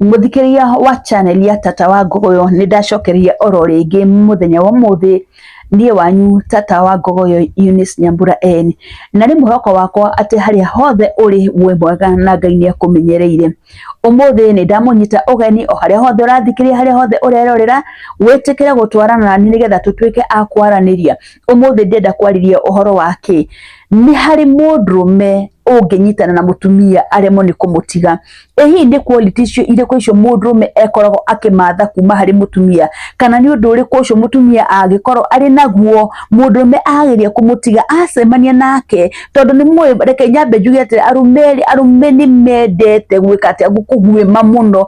Mũthikĩria wa channel ya Tata wa Ngogoyo nĩ ndacokeria oro rĩngĩ mũthenya wa ũmũthĩ niĩ wanyu Tata wa Ngogoyo Eunice Nyambura en na nĩ mwĩhoko wakwa atĩ harĩa hothe ũrĩ wĩ mwega na Ngai nĩ akũmenyereire. Ũmũthĩ nĩ ndamũnyita ũgeni o harĩa hothe ũrathikĩria harĩa hothe ũrerorera wĩtĩkĩre gũtwarana nani nĩgetha tũtuĩke a kwaranĩria Ũmũthĩ ndĩenda kwarĩria ũhoro wa kĩ? Nĩ harĩ mũndũrũme ũngĩnyitana na mũtumia aremwo nĩ kũmũtiga. Ĩ hihi nĩ quality icio irĩkũ icio mũndũrũme ekoragwo akĩmatha kuma harĩ mũtumia? Kana nĩ ũndũ ũrĩkũ ũcio mũtumia angĩkorwo arĩ naguo mũndũrũme ageria kũmũtiga acemania nake? Tondũ nĩ mũĩ, reke nyambe njuge atĩ arũme rĩ, arũme nĩ mendete gwĩka atĩa, kũguĩma mũno,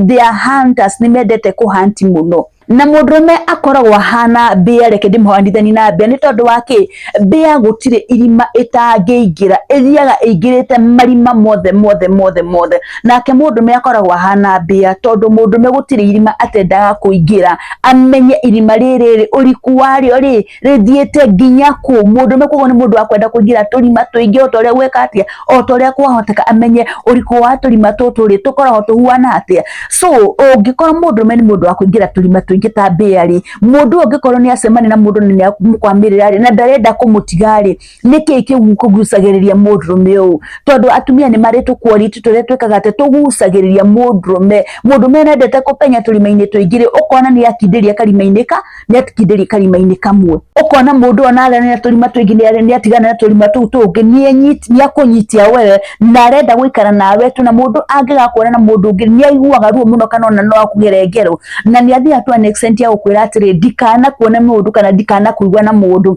they are hunters, nĩ mendete kũ hunt mũno. na mũndũrũme akoragwo ahana mbĩa reke ndĩmũhanithani na mbĩa nĩ tondũ wa kĩ mbĩa gũtirĩ irima ĩtangĩingĩra ĩthiaga ĩingĩrĩte marima mothe mothe mothe mothe nake mũndũrũme akoragwo ahana mbĩa tondũ mũndũrũme gũtirĩ irima atendaga kũingĩra amenye irima rĩrĩ rĩ ũriku warĩo rĩ rĩthiĩte nginya kũ mũndũ ũmwe koguo nĩ mũndũ wa kwenda kũingĩra tũrima tũingĩ o ta ũrĩa gwĩka atĩa o ta ũrĩa kwahoteka amenye ũrikũ wa tũrima tũtũ rĩ tũkoragwo tũhuana atĩa so ũngĩkorwo mũndũ ũmwe nĩ mũndũ wa kũingĩra tũrima tũingĩ ta mbĩa rĩ mũndũ ũyũ ũngĩkorwo nĩ acemania na mũndũ nĩ nĩamũkwamĩrĩra rĩ na ndarenda kũmũtiga rĩ nĩkĩ kĩu kũgucagĩrĩria mũndũrũme ũũ tondũ atumia nĩ marĩ tũkuoriti tũrĩa twĩkaga atĩ tũgucagĩrĩria mũndũrũme mũndũrũme nendete kũpenya tũrima-inĩ tũingĩ ũkona nĩ akindĩria karima-inĩ ka nĩ akindĩria karima-inĩ kamwe ũkona mũndũ ona ararĩ na tũrima tũingĩ nĩ atigana na tũrima tũu tũngĩ nĩ akũnyitia wewe na arenda gũikara nawe tu na mũndũ angĩgakuona na mũndũ ũngĩ nĩ aiguaga ruo mũno kana ona no akugere ngero na nĩ athiaga tu an extent ya gũkwĩra atĩrĩ ndikanakuone mũndũ kana ndikanakuigua na mũndũ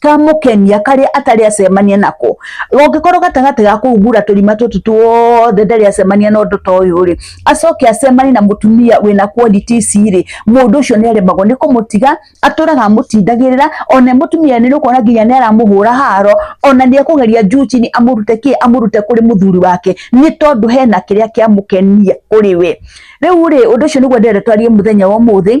kamũkenia karĩa atarĩ acemania nako ũngĩkorwo gatagatĩ ga kũhumbura tũrima tũtũ tuothe ndarĩ acemania na ũndũ ta ũyũ rĩ acoke acemanie na mũtumia wĩna quality ici rĩ mũndũ ũcio nĩ aremagwo nĩ kũmũtiga atũraga amũtindagĩrĩra ona mũtumia nĩ ũkuona nginya nĩ aramũhũra haro ona nĩ ekũgeria njucini amũrute kĩ amũrute kũrĩ mũthuri wake nĩ tondũ hena kĩrĩa kĩamũkenia kũrĩ we rĩu rĩ ũndũ ũcio nĩguo ndĩrenda twarie mũthenya wa ũmũthĩ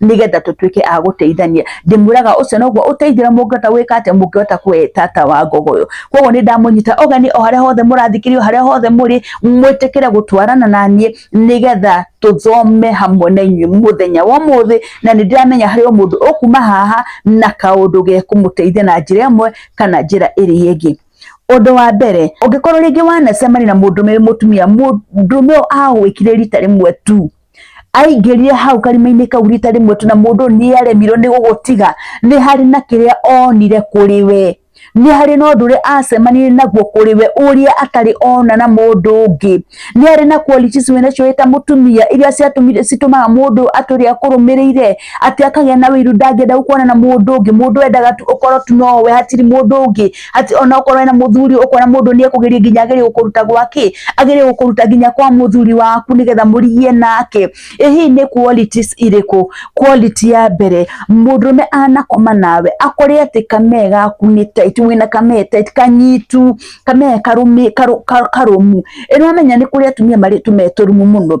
nigetha tutuike a guteithania ndimuraga ucio noguo uteithira mungata wika ate mungihota kwetata wa ngogo yo koguo ni ndamunyita ogani o haria hothe murathikirio haria hothe muri mwitikire gutwarana na nie nigetha tuthome hamwe na inyuĩ muthenya wa muthi na ni ndiramenya hari o mundu ukuma haha na kaundu ge kumuteithia na njira imwe kana njira iri ingi undu wa mbere ungikorwo ringi wanacemania na mundu me mutumia mundu me ahwikire rita rimwe tu aingĩrire hau karima-inĩ kau rita rĩmwe tu na mũndũ nĩ aremirwo nĩ gũgũtiga nĩ harĩ na kĩrĩa onire kũrĩ we nĩ harĩ na ũndũ ũrĩa acemanirie naguo kũrĩ we ũrĩa atarĩ ona na mũndũ ũngĩ nĩ harĩ na qualities wĩ nacio wĩ ta mũtumia iria ciatũmire citũmaga mũndũ atũrĩa akũrũmĩrĩire atĩ akagĩa na wĩiru ndangĩenda gũkorana na mũndũ ũngĩ mũndũ endaga tu ũkorwo tu nowe hatirĩ mũndũ ũngĩ ati ona ukorwo wena muthuri ukona mundu ni ekugeria nginya agere gukuruta gwake agere gukuruta nginya kwa muthuri waku nigetha murigie nake ihi ni qualities iriku quality ya mbere mundurume anakoma nawe akore ati kamee gaku ni tight wina kamee tight kanyitu kamee karumi karu- karu- karumu ino amenya ni kuri atumia mari tumeturumu muno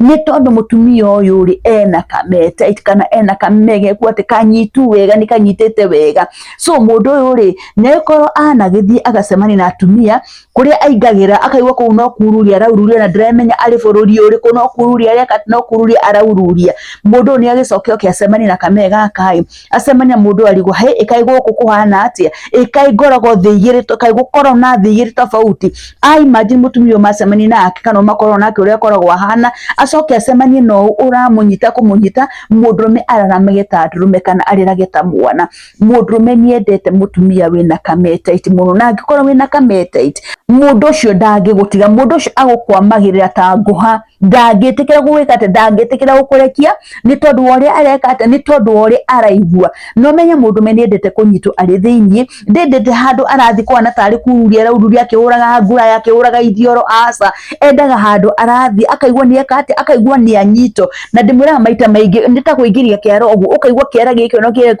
nĩ tondũ mũtumia ũyũ rĩ ena kamete kana ena kamege kuo atĩ kanyitu wega nĩ kanyitĩte wega so mũndũ ũyũ rĩ nĩkorwo anagĩthiĩ agacemania na atumia kũrĩa aingagĩra akaigua kũu no kururia araururia na ndĩramenya arĩ bũrũri ũrĩkũ no kururia areka no kururia araururia mũndũ ũyũ nĩ agĩcoke oke acemanie na kamee gaka ĩ acemania mundu arigwo he ikai guku kuhana atia ikai ngorogo thi igiri to kai gukoro na thi igiri tofauti ai imagine mutumio macemania nake kana makorwo nake uria akoragwo ahana acoke acemanie no uramunyita kumunyita mundurume araramage ta ndurume kana arirage ta mwana mundurume niendete mutumia wina kametite muno na angikorwo wina kametite mundu ucio ndangigutiga mundu ucio agukwamagirira ta nguha ndangĩtĩkĩra gũgwĩka atĩ ndangĩtĩkĩra gũkũrekia nĩ tondũ wa ũrĩa areka atĩ nĩ tondũ wa ũrĩa araigua no menye mũndũ me nĩendete kũnyitwo arĩ thĩinĩ ndendete handũ arathiĩ kwana tarĩ kururia araururia akĩhũraga nguraya akĩhũraga ithioro aca endaga handũ arathiĩ akaigua nĩ eka atĩ akaigua nĩ anyitwo na ndĩmwĩraga maita maingĩ nĩ ta kũingĩria kĩara ũguo ũkaigua kĩara gĩkĩ no kĩrĩ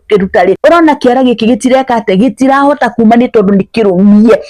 kũruta rĩ ũrona kĩara gĩkĩ gĩtireka atĩ gĩtirahota kuma nĩ tondũ nĩ kĩrũmie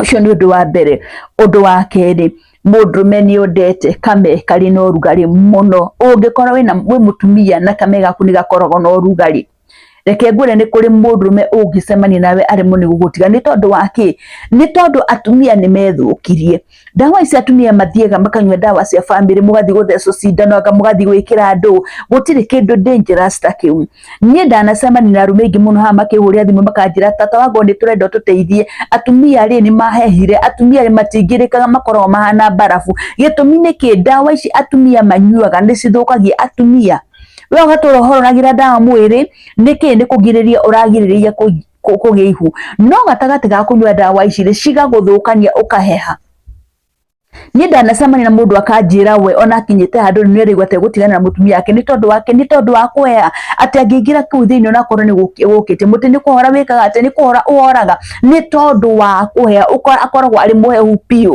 Ũcio nĩ ũndũ wa mbere. Ũndũ wa kerĩ, mũndũrũme nĩ ũndete kame karĩ na ũrugarĩ mũno. Ũngĩkorwo wĩna wĩ mũtumia na kame gaku nĩ gakoragwo na ũrugarĩ, reke ngwĩre nĩ kũrĩ mũndũrũme ũngĩcemania nawe aremwo nĩ gũgũtiga. Nĩ tondũ wa kĩ? Nĩ tondũ atumia nĩ methũkirie. ndawa ici atumia mathiaga makanyua ndawa cia family mugathi guthecwo cindano anga mugathi gwikira andu gutiri kindu dangerous ta kiu nie ndanacemania na arume ingi muno ha makihuria thimu makanjira tata wago ni turenda tuteithie atumia ri ni mahehire atumia ri matingirikaga makoragwo mahana barafu gitumi ni ki ndawa ici atumia manyuaga ni cithukagia atumia we ugatura uhororagira ndawa mwiri niki ni kugiriria uragiriria kũ- kũgĩa ihu no gatagatĩ ga kũnyua ndawa ici rĩ cigagũthũkania ũkaheha niĩ ndanacemania na mũndũ akanjĩra we ona akinyĩte handũ nĩ arĩigua ta egũtigana na mũtumia wake nĩ tondũ wake nĩ tondũ wa kũheha atĩ angĩingĩra kũu thĩinĩ onakorwo nĩ gũkĩ- gũkĩte mũtĩ nĩ kũhora wĩkaga atĩ nĩ kũhora ũhoraga nĩ tondũ wa kũheha ũkora akoragwo arĩ mũhehu biũ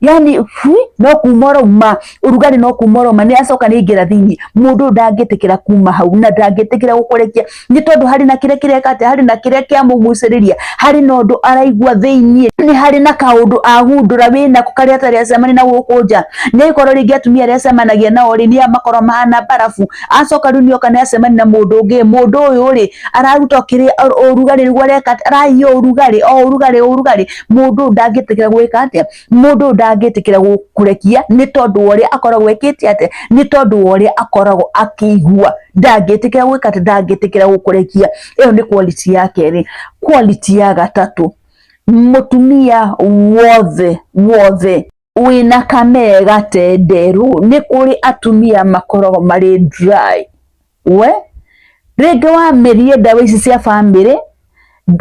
yani hui no kuma ũrauma ũrugarĩ no kuma ũrauma nĩ acoka nĩ ingĩra thĩinĩ mũndũ ndangĩtĩkĩra kuma hau na ndangĩtĩkĩra gũkũrekia nĩ tondũ harĩ na kĩrĩa kĩreka atĩ harĩ na kĩrĩa kĩamũgucĩrĩria harĩ na ũndũ araigua thĩinĩ nĩ harĩ na kaũndũ ahundũra wĩ nako karĩa atarĩ acemania na gũkũ nja nĩ gũkorwo rĩngĩ atumia arĩa acemanagia nao rĩ nĩ makorwo mahana barabu acoka rĩu nĩ oka nĩ acemania na mũndũ ũngĩ mũndũ ũyũ rĩ araruta kĩrĩa ũrugarĩ nĩguo areka arahiha ũrugarĩ o ũrugarĩ ũrugarĩ mundu uyu ndangĩtĩkĩra gwĩka atĩa mundu uyu ndangĩtĩkĩra kũrekia nĩ tondũ wa ũrĩa akoragwo ekĩte atĩa nĩ tondũ wa ũrĩa akoragwo akĩigua ndangĩtĩkĩra gwĩka atĩ ndangĩtĩkĩra gũkũrekia ĩyo nĩ quality ya kerĩ quality ya gatatũ mũtumia wothe wothe wĩna kamega tenderũ nĩ kũrĩ atumia makoragwo marĩ dry we rĩngĩ wamerie ndawa ici cia bamĩrĩ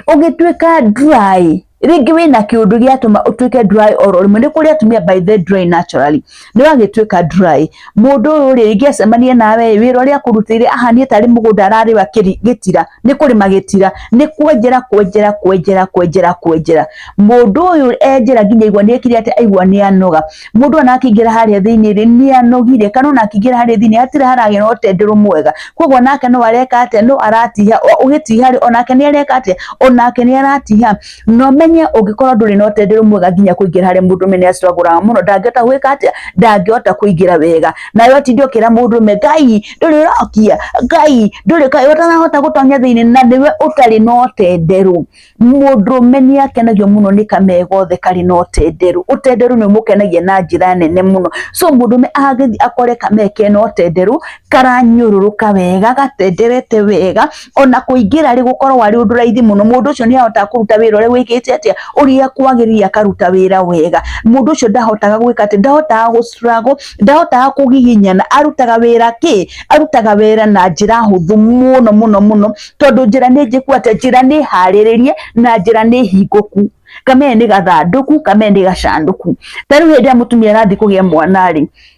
ũgĩtuĩka dry rĩngĩ wĩna kĩũndũ gĩatũma ũtuĩke dry oro rĩmwe nĩ kũrĩ atumia by the dry naturally nĩ wagĩtuĩka dry mũndũ ũyũ rĩ rĩngĩ acemanie nawe wĩra ũrĩa akũrutĩire ahanie tarĩ mũgũnda ararĩwa gĩtira nĩ kũrĩma gĩtira nĩ kwenjera kwenjera kwenjera kwenjera kwenjera mũndũ ũyũ enjera nginya igwa nĩ ekire atĩ aigua nĩ anoga mũndũ ona akĩingĩra harĩa thĩinĩ rĩ nĩ anogire kana ona akĩingĩra harĩa thĩinĩ hatirĩ haragĩa na ũtenderũ mwega koguo nake no areka atĩa no aratiha ũgĩtiha rĩ onake nĩ areka atĩa onake nĩ aratiha no menye ũngĩkorwo ndũrĩ na ũteithio mwega nginya kũingĩra harĩ mũndũ mene acitwagũraga mũno ndangĩhota gwĩka atĩa ndangĩhota kũingĩra wega nawe ũtinde ũkĩra mũndũ me ngai ndũrĩ ũrokia ngai ndũrĩ kaĩ ũtanahota gũtonya thĩinĩ na nĩwe ũtarĩ na ũtenderũ mũndũ mene akenagio mũno nĩ kamega othe karĩ na ũtenderũ ũtenderũ nĩ ũmũkenagia na njĩra nene mũno so mũndũ me agĩthiĩ akore kameke na ũtenderũ karanyũrũrũka wega gatenderete wega ona kũingĩra rĩ gũkorwo arĩ ũndũ raithi mũno mũndũ ũcio nĩ ahotaga kũruta wĩra ũrĩa wĩkĩte atĩa ũrĩa kwagĩrĩire akaruta wĩra wega mũndũ ũcio ndahotaga gwĩka atĩ ndahotaga gũ struggle ndahotaga kũgiginyana arutaga wĩra kĩ arutaga wĩra na njĩra hũthũ mũno mũno mũno tondũ njĩra nĩ njĩku atĩ njĩra nĩ harĩrĩrie na njĩra nĩ hingũku kamee nĩ gathandũku kamee nĩ gacandũku tarĩu hĩndĩ ĩrĩa mũtumia arathiĩ kũgĩa mwana rĩ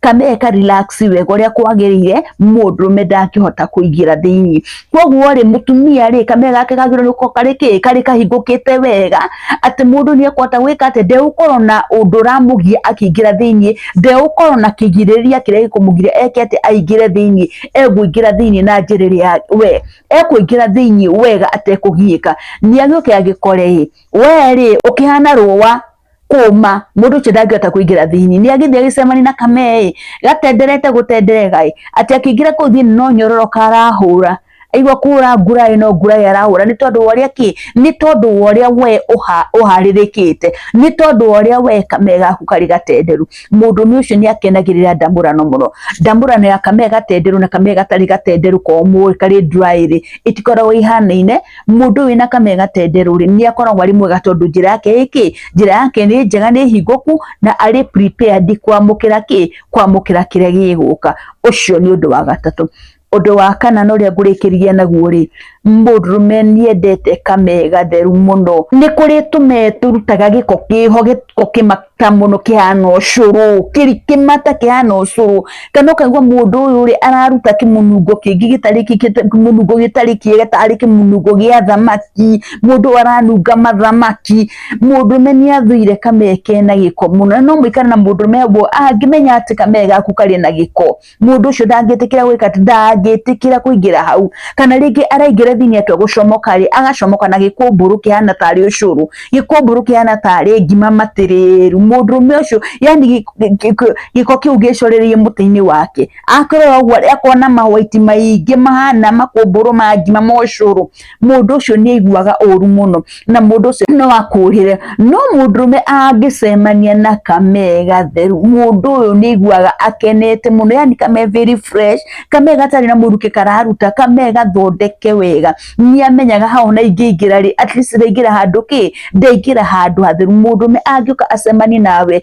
kana eka relax wega uria kwagirire mundurume ndangihota kuingira thiini koguo ri mutumia ri kame gake gagirwo nuko kari ki kari kahingukite wega ati mundu ni ekwata gwika ati ndeukorwo na undu ramugia akiingira thiini ndeukorwo na kigiriria kiria gikumugiria eke ati aingire thiini eguingira thiini na njira iria we ekuingira thiini wega atekugiika ni agiuke agikore we ri ukihana ruwa kũma mũndũ ũcio ndangĩhota kũingĩra thĩinĩ nĩ agĩthiĩ agĩcemani na kameĩ gatenderete gũtenderegaĩ atĩ akĩingĩra kũu thĩinĩ no nyororo karahũra aigua kũra nguraĩ no nguraĩ arahũra nĩ tondũ wa ũrĩa kĩ nĩ tondũ wa ũrĩa we ũharĩrĩkĩte nĩ tondũ wa ũrĩa we kame gaku karĩ gatenderu mũndũme ũcio nĩ akenagĩrĩra ndamũrano mũno ndamũrano ya kame gatenderu na kame gatarĩ gatenderu komũ karĩ nduraĩrĩ itikoragwo ihanaine Mũndũ wĩna kamee gatenderũ rĩ nĩ akoragwo arĩ mwega tondũ njĩra yake ĩ kĩ? Njĩra yake nĩ njega, nĩ hingũku na arĩ prepared kwamũkĩra kĩ? Kwamũkĩra kĩrĩa gĩgũka. Ũcio nĩ ũndũ wa gatatũ. Ũndũ wa kana na ũrĩa ngũrĩkĩria naguo rĩ, mũndũrũme nĩ endete kamee gatheru mũno. Nĩ kũrĩ tũmee tũrutaga gĩko kĩho, gĩko kĩmako. ta mũno kĩhana ũcũrũ kĩri kĩmata kĩhana ũcũrũ kana ũkaigua mũndũ ũyũ rĩ araruta kĩmunungo kĩngĩ gĩtarĩ kĩmunungo gĩtarĩ kĩega tarĩ kĩmunungo gĩa thamaki mũndũ ũyũ aranunga mathamaki mũndũme nĩ athũire kame kena gĩko mũno na no mũikare na mũndũme ũguo angĩmenya atĩ kame gaku karĩ na gĩko mundu ucio ndangĩtĩkĩra gwĩka atĩ ndangĩtĩkĩra kũingĩra hau kana rĩngĩ araingĩra thĩinĩ atua gũcomoka rĩ agacomoka na gĩkũmbũrũ kĩhana tarĩ ũcũrũ gĩkũmbũrũ kĩhana tarĩ ngima matĩrĩru mũndũrũme ũcio yani gĩ- gĩ- gĩ- gĩko kĩu gĩcorereirie mũtĩ-inĩ wake akĩrora ũguo akona mawaiti maingĩ mahana makũmbũrũ ma ngima ma ũcũrũ mũndũ ũcio nĩ aiguaga ũru mũno na mũndũ ũcio no akũhĩre no mũndũrũme angĩcemania na kame gatheru mũndũ ũyũ nĩ aiguaga akenete mũno yani kame very fresh kame gatarĩ na mũrukĩ kararuta kame gathondeke wega nĩ amenyaga hau na ingĩingĩra rĩ at least ndaingĩra handũ kĩ ndaingĩra handũ hatheru mũndũrũme angĩũka acemanie nawe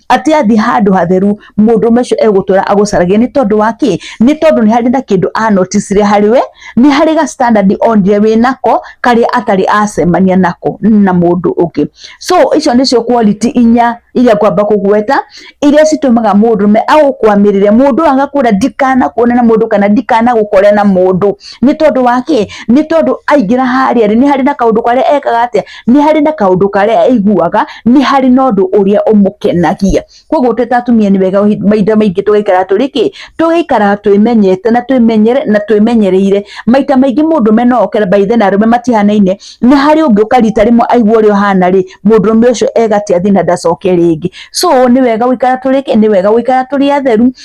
atĩ athiĩ handũ hatheru mũndũ ũmwe ũcio egũtũra agũcaragia nĩ tondũ wa kĩ nĩ tondũ nĩ harĩ na kĩndũ anoticire harĩ we nĩ harĩ ga standard onire wĩ nako karĩa atarĩ acemania nako na mũndũ ũngĩ so icio nĩcio quality inya iria ngwamba kũgweta iria citũmaga mũndũ me agũkwamĩrĩre mũndũ agakwĩra ndikanakuone na mũndũ kana ndikanagũkore na mũndũ nĩ tondũ wa kĩ nĩ tondũ aingĩra harĩa rĩ nĩ harĩ na kaũndũ karĩa ekaga atĩa nĩ harĩ na kaũndũ karĩa aiguaga nĩ harĩ na ũndũ ũrĩa ũmũkenagia koguo twĩ ta atumia nĩ wega ũhi- mahinda maingĩ tũgaikara tũrĩ kĩ tũgaikara twĩmenyete na twĩmenyere na twĩmenyereire maita maingĩ mũndũ mena oke by then arũme matihanaine nĩ harĩ ũngĩ ũka rita rĩmwe aigua ũrĩa ũhana rĩ mũndũrũme ũcio egatia thĩ na ndacoke rĩngĩ so nĩ wega gũikara tũrĩ kĩ nĩ wega gũikara tũrĩ atheru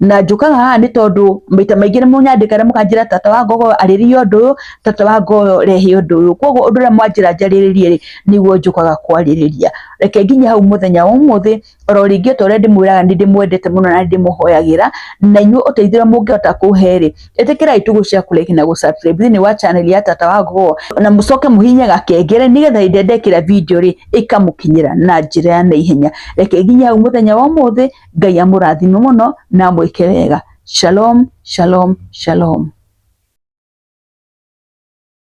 na njũkaga haha nĩ tondũ maita maingĩ nĩ mũnyandĩka na mũkanjĩra tata wa ngogo arĩrie ũndũ ũyũ tata wa ngogo rehe ũndũ ũyũ koguo ũndũ ũrĩa mwanjĩra njarĩrĩrie rĩ nĩguo njũkaga kwarĩrĩria reke nginya hau mũthenya wa ũmũthĩ oro rĩngĩ ta ũrĩa ndĩmwĩraga nĩ ndĩmwendete mũno na ndĩmũhoyagĩra na inyuĩ ũteithio mũngĩhota kũhe rĩ ĩtĩkĩrai tũgũ cia kũreki na gũsubscribe thĩinĩ wa channel ya tata wa ngogo na mũcoke mũhinye gakengere nĩgetha hĩndĩ ĩrĩa ndekĩra video rĩ ĩkamũkinyĩra na njĩra ya naihenya reke nginya hau mũthenya wa ũmũthĩ ngai amũrathime mũno na amwĩke wega shalom shalom shalom